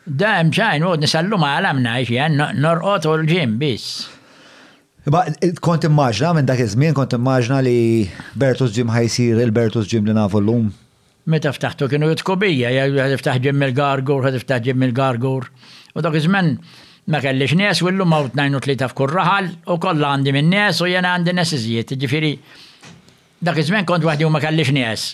Da hemm x'għajn għodni sal-lum għala mnajx jen norqod u l-ġim biss. Imma kont immaġna minn dak iż-żmien kont immaġna li Bertus Ġim ħajsir il-Bertus Ġim li nafu llum. Meta ftaħtu kienu jitku bija, jgħidu ftaħ ġim mill-gargur, ħad ftaħ ġim mill-gargur. U dak iż-żmen ma kellix nies u llum hawn tnajn u tlieta f'kull raħal u kollha għandi minn nies u jiena għandi nies iżjed. Ġifieri Dak iż-żmien kont waħdi u ma kellix nies.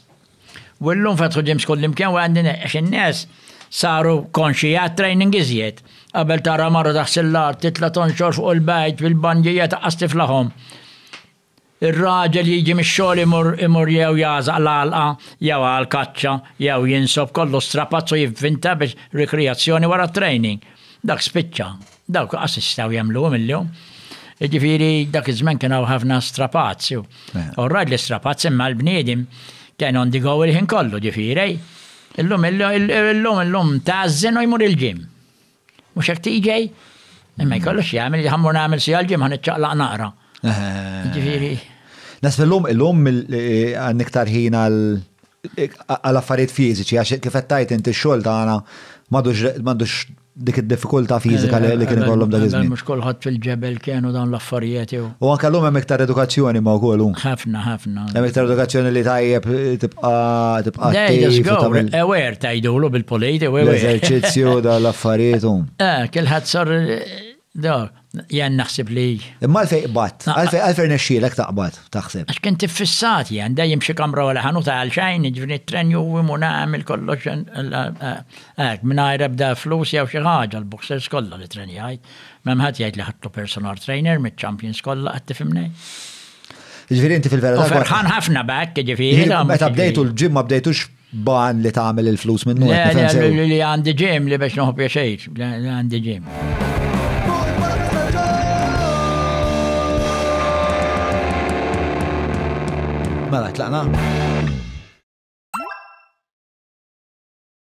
U llum fetħu gyms kullimkien u għandi nies għax in-nies saru konxji għat-training iżjed. Qabel tara mara taħsi l-art, titla' tonxor fuq il-bajt bil-banjija taqqas tiflahom. Ir-raġel jiġi mix-xogħol imur imur jew jagħżaq l-għalqa jew għall-kaċċa jew jinsob kollu strapazz u jivvinta biex rikrijazzjoni wara t-training. Dak spiċċa. Dawk qas jistgħu jagħmluhom illum. Jiġifieri dak iż-żmien kien hawn ħafna strapazz. All right li strapazz imma l-bniedem kien on the go il-ħin kollu ġifieri. Illum illum illum tażżen u jmur il-ġim. Mhux hekk tiġej? Imma jkollux jagħmel li ħammur nagħmel si għal-ġim ħan iċċaqlaq naqra. Ġifieri. Nasbellum illum għandek tarħin għal għal affarijiet fiżiċi, għax kif qed tgħid inti x-xogħol tagħna m'għadux dik id-diffikultà fiżika li kien ikollhom dak iż-żmien. Mhux kulħadd fil-ġebel kienu dawn l-affarijiet jew. U anke llum hemm iktar edukazzjoni ma' wkoll hu. Ħafna, ħafna. Hemm iktar edukazzjoni li tajjeb tibqa' tibqa' tagħmel. Aware tgħidulu bil-polit, aware. L-eżerċizzju dal-affarijiet hu. Eh, kilħadd sar Do, jen naħseb li. Imma għalfej qbatt, għalfej nexxielek taqbad, taħseb. Għax kien tiffissat jen, dejjem xi kamra wara ħanuta għal xejn, ġvini t-tren juwim u nagħmel kollox hekk mingħajr ebda flus jew xi ħaġa l-boxers kollha li tren jgħid. M'hemm ħadd jgħid li ħadtu personal trainer miċ-champions kollha qed tifhimni. Ġifieri inti fil-verità. Ferħan ħafna b'hekk, ġifieri. Meta bdejtu l-ġimma bdejtux Ban li tagħmel il-flus minnu. Li għandi ġim li biex noħob jaxejt, li għandi ġim. Mela, tlaqna.